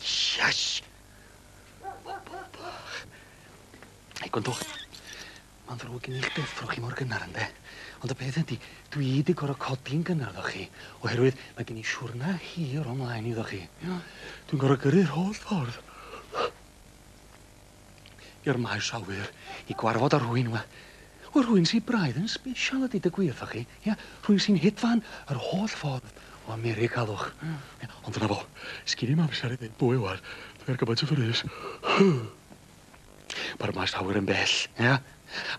Shush! Hei, gwrandwch. Ma'n ddrwg gen i 'ych deffro chi mor gynnar, ynde? Ond y peth ydi, dwi 'di gor'o' codi'n gynnar efo chi, oherwydd ma' gen i siwrna hir o mlaen iddo chi. Dwi'n gor'o' gyrru'r holl ffordd. i'r maes awyr i gwarfod â rhywun, wel, wel rhywun sy'n braidd yn special ydy dy gwir, chi, ia? Rhywun sy'n hedfan yr holl ffordd o America, galwch. Mm. Ond dyna fo, sgin i'm amser i ddweud bwy wan, dwi ar gymaint o frys. Mae'r maes awyr yn bell, ia?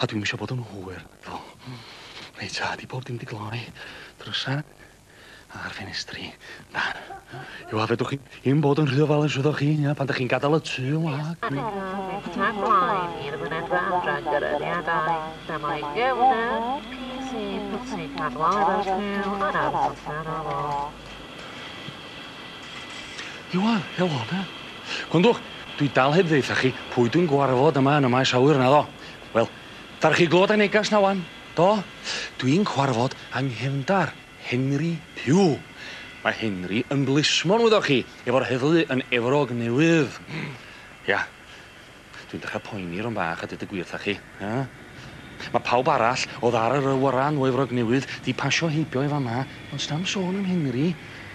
A dwi'n eisiau bod yn hwyr, ddo. Reit, a, di bob dim di gloi. Drysa, A'r ffenestri. Na. Yw a fedrwch chi un bod yn rhy ofal yn swyddoch chi, ia, pan da chi'n gadael y tu yn wag. Ac er y peth tan blaen i'r fynedfa adran gyrraeddiadau, na mae gefnder PC pwtsi cadwair ar sgil yn ardd allan o fo. Iwan, helo, be? Gwndwch, dwi dal heb ddeitha chi pwy dwi'n gwarfod yma yn y maes awyr, naddo? Wel, dar chi glywed y negas na wan? Do, dw i'n cwarfod yng nghefndar, Henry Pugh. Mae Henry yn blismon, wyddoch chi, efo'r heddlu yn Efrog Newydd. Ia, dw i'n dechrau poeni rownd bach, a deud y gwir 'tha chi. Ia. Mae pawb arall oedd ar yr awyren o Efrog Newydd 'di pasio heibio i fama, ond sna'm sôn am Henry.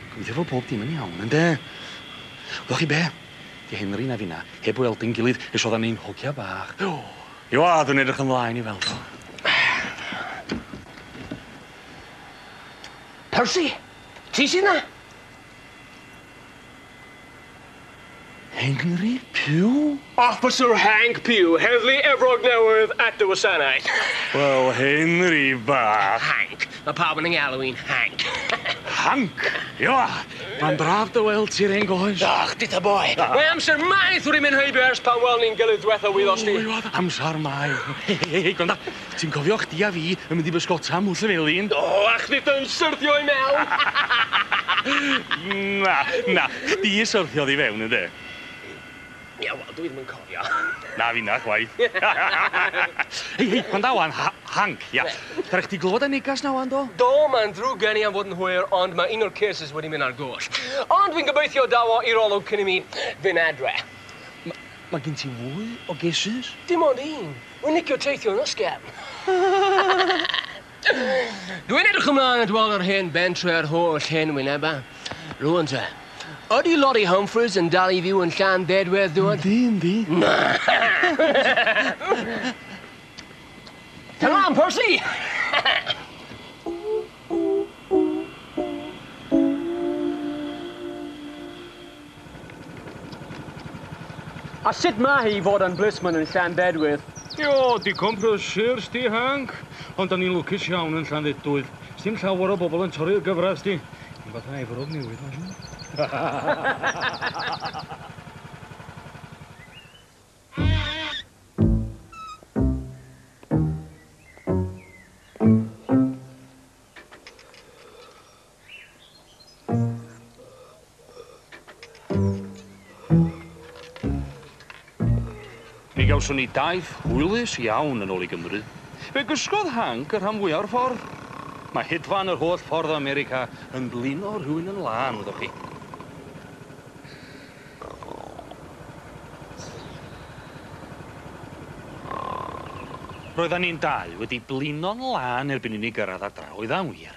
Gobeithio fod pob dim yn iawn, ynde? Wyddoch chi be? 'Di Henry na finna heb weld ein gilydd ers oeddan ni'n hogia bach. You are, dwi'n edrych ymlaen i weld o. Percy? Ti sy 'na? Henry Pugh? Officer Hank Pugh, Heddlu Efrog Newydd at dy wasanaeth. Wel, Henry bach. Hank, Mae pawb yn 'y ngalw i'n Hank. Hank! Ia! Mae'n braf dy weld ti 'r hen goes. Ych, dita boi! Mae amser maith wri mynd heibio ers pan weln ni'n gilydd dwetha wyddost ti? Ww, oedd amsar maith. Hei, hei, hei, gwranda, ti'n cofio chdi a fi yn mynd i bysgota Mwll y Felin? O, a chdi dy yn syrthio i mewn! Na, na, chdi syrthiodd i fewn, ynde? Ie, wel, dw i ddim yn cofio. Na finna chwaith. Hei, hei, gwranda ŵan, ha- Hank, ia. Be? Fedra chdi glywed y negas 'na ŵan, do? Do, mae'n ddrwg gen i am fod yn hwyr, ond mae un o'r curses wedi mynd ar goll. Ond dwi'n gobeithio daw o i'r olwg cyn i mi fynd adre. M- mae gen ti fwy o gurses? Dim ond un. Rwy'n licio teithio yn ysgafn. Dwi'n edrych ymlaen at weld yr hen bentre a'r holl hen wynebau. Rŵan te, ydy Lori Humphries yn dal i fyw yn Llan Bedwedd, dŵad? Yndi, yndi. Na! Tan lan, Percy! A sut mae hi i fod yn blismon yn Llanbedwydd? Io, digon prysur sdi Hank, ond da ni'n lwcus iawn yn Llanfedwydd. Sdim llawer o bobl yn torri'r gyfradd sdi. Dim fatha Efrog Newydd mae'n siŵr. Mi gawson ni daith hwylus iawn yn ôl i Gymru. Fe gysgodd Hank y rhan fwya o'r ffordd. Mae hedfan yr holl ffordd o America yn blino rhywun yn lân, wyddoch chi. Roeddan ni'n dau wedi blino'n lân erbyn i ni gyrraedd adra, oedd a'n wir?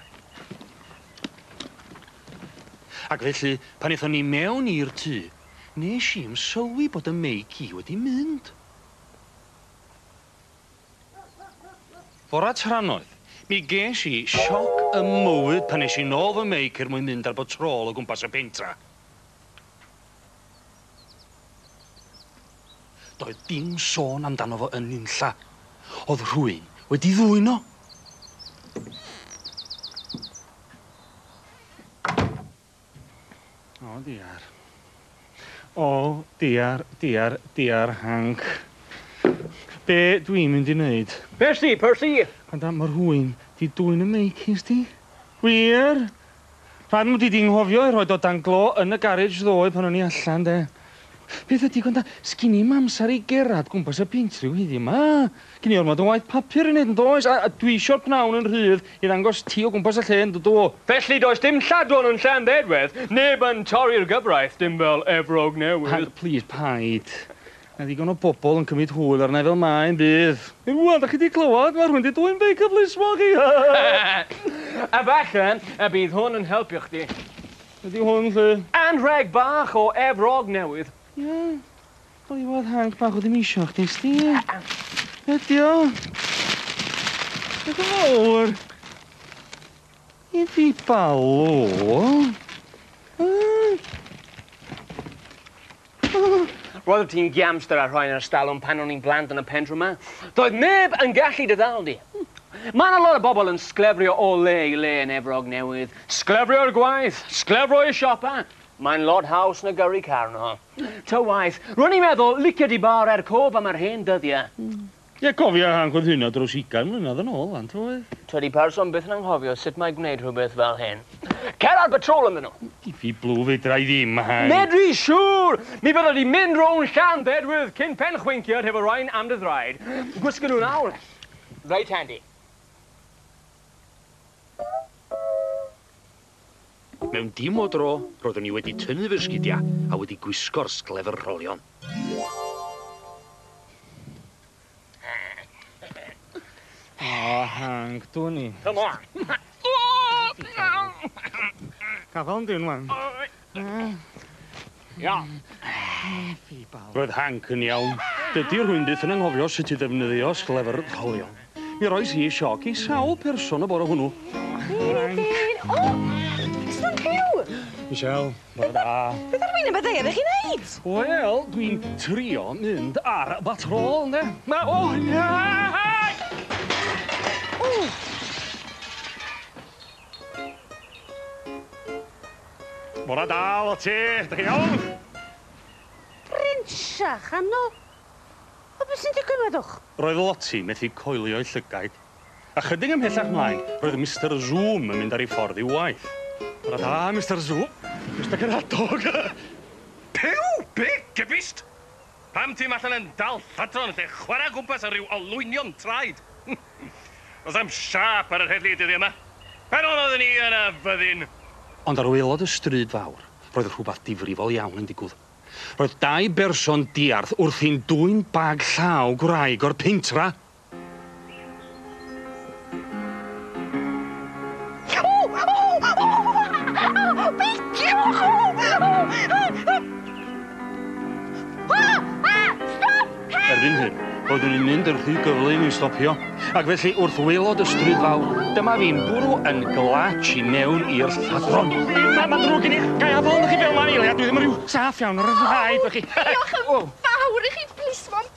Ac felly, pan ethon ni mewn i'r tŷ, nes i'm sylwi bod 'y meic i wedi mynd. Fora trannoeth, mi ges i sioc 'ym mywyd pan es i nôl fy meic er mwyn mynd ar batrôl o gwmpas y pentra. Doedd dim sôn amdano fo yn nunlla. O'dd rhywun wedi ddwyn o. O diar. O diar, diar, diar hanc. Be dwi'n mynd i neud? Percy, Percy! Gwranda, ma' rhywun 'di dwyn 'y meic i sti. Gwir? Pam ydi di'n nghofio i rhoid o dan glo yn y garej ddoe pan o'n i allan de? Peth ydi gwranda, sgin i'm amser i gerad gwmpas y binc ryw heddiw ma. Gin i ormod o waith papur i neud yndoes, a dwi isio'r pnawn yn rhydd i ddangos ti o gwmpas y lle yn dydw? Felly does dim lladron yn Llanbedwedd, neb yn torri'r gyfraith, dim fel Efrog Newydd. Hank, plîs, paid. Mae digon o bobl yn cymryd hwyl arna i fel mae yn bydd. Rwan, dach chi 'di clywed? Mae rhywun 'di dwyn beic y plismon chi! A falle y bydd hwn yn helpu chdi. Be 'di hwn, 'lly? Anrheg bach o Efrog Newydd. Ie, clywodd hanc bach o ddementia chdi, Steve. Be 'di o? Beth yn fawr? Iddi balw? Yy? Roeddet ti'n giamster a rhoi'n yr ystalwm pan o'n i'n blant yn y pentre 'ma. Doedd neb yn gallu dy ddal di. Mae 'na lot o bobl yn sglefrio o le i le yn Efrog Newydd. Sglefrio i'r gwaith, sglefrio i'r siopa. Mae'n lot haws na gyrru carno. Ta waeth, ro'n i'n meddwl, licio di bar er cof am yr hen dyddiau. Ie, cofia hangodd hynna dros ugain mlynedd yn ôl, wan, t'wod? Tydi person byth yn anghofio sut mae gwneud rhywbeth fel hyn. Cer ar batrôl ynddyn nhw! Di fi blw fedra i ddim, Hang. Medri, siŵr! Mi fydda di'n mynd rownd Llanbedwydd cyn pen chwincio hefo rain am dy ddraed. Gwisgo nhw nawr. Reit handi. Mewn dim o dro, roeddwn i wedi tynnu fy sgidiau a wedi gwisgo'r sglefr rholion. Ah, Hank, dwn i. Come on! Cafon di, wan. Iawn. Roedd Hank yn iawn. Dydy rhywun byth yn anghofio sut i ddefnyddio sglefr rholio. Mi roes i sioc i sawl person y bore hwnnw. Hank! O! Sut byw? Michelle, bore da. Beth ar wyneb y ddaear ych chi'n neud? Wel, dwi'n trio mynd ar batrôl, ynde? Ma- O! Hank! O! Bore da, Lottie! Dych chi'n iawn? Brincia, chanol? O, beth sy'n digwydd, meddwch? Roedd Lottie methu coelio'i llygaid. Ychydig ymhellach mlaen, roedd Mister Zoom yn mynd ar ei ffordd i'w waith. Bore da, Mister Zoom. Mister Caradog! Puw! Be? Gybist? Pam ti'm allan yn dal lladron lle chwarae o gwmpas â rhyw olwynion traed? Does na'm siâp ar yr heddlu y dyddiau 'ma. Pan oeddwn ni yn y fyddin! Ond ar waelod y stryd fawr, roedd rhywbeth difrifol iawn yn digwdd. Roedd dau berson diarth wrthi'n dwyn bag llaw gwraig o'r pentra! Erbyn hyn, roeddwn i'n mynd yn rhy gyflym i stopio, ac felly wrth waelod y stryd fawr, dyma fi'n bwrw yn glats i mewn i'r lladron. Mae'n ddrwg gen i, ga i adael arnoch chi fel 'ma am eiliad? Dwi ddim yn rhyw saff iawn ar yr rhaid, felly... Diolch yn fawr i chi, plismon!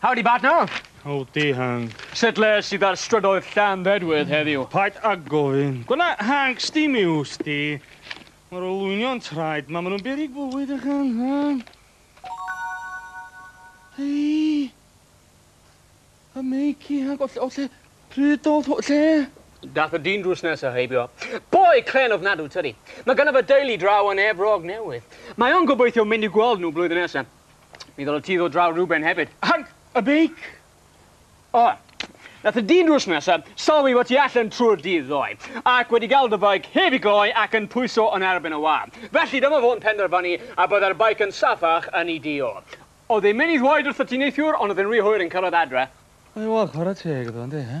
Howdy partner! Howdy Hank. Sut le sydd ar strydoedd Llanddedwydd heddiw? Paid â gofyn. Gwna Hank sdim i wsti. Mae'r olwynion traed ma, maen nhw'n beryg bywyd a chan han. Hei! A meici Hank, o lle, o lle, pryd oedd hw, lle? Dath y dyn drws nesa heibio. Boi clên ofnadw tydi. Mae ganddo fo deulu draw yn Efrog Newydd. Mae o'n gobeithio mynd i gweld nhw blwyddyn nesa. Mi ddyla ti ddod draw rhywben hefyd. Ag y beic! O, nath y dyn drws nesa sylwi fod ti allan trwy'r dydd ddoe, ac wedi gael dy feic heb i gloi ac yn pwyso yn erbyn y wâr. Felly dyma fo'n penderfynu y bydde'r beic yn safach yn ei dŷ o. Oedd e'n mynd i ddweud wrtho ti neithiwr, ond oedd e'n rhy hwyr yn cyrraedd adre. Wel, chwarae teg iddo, yndi, he?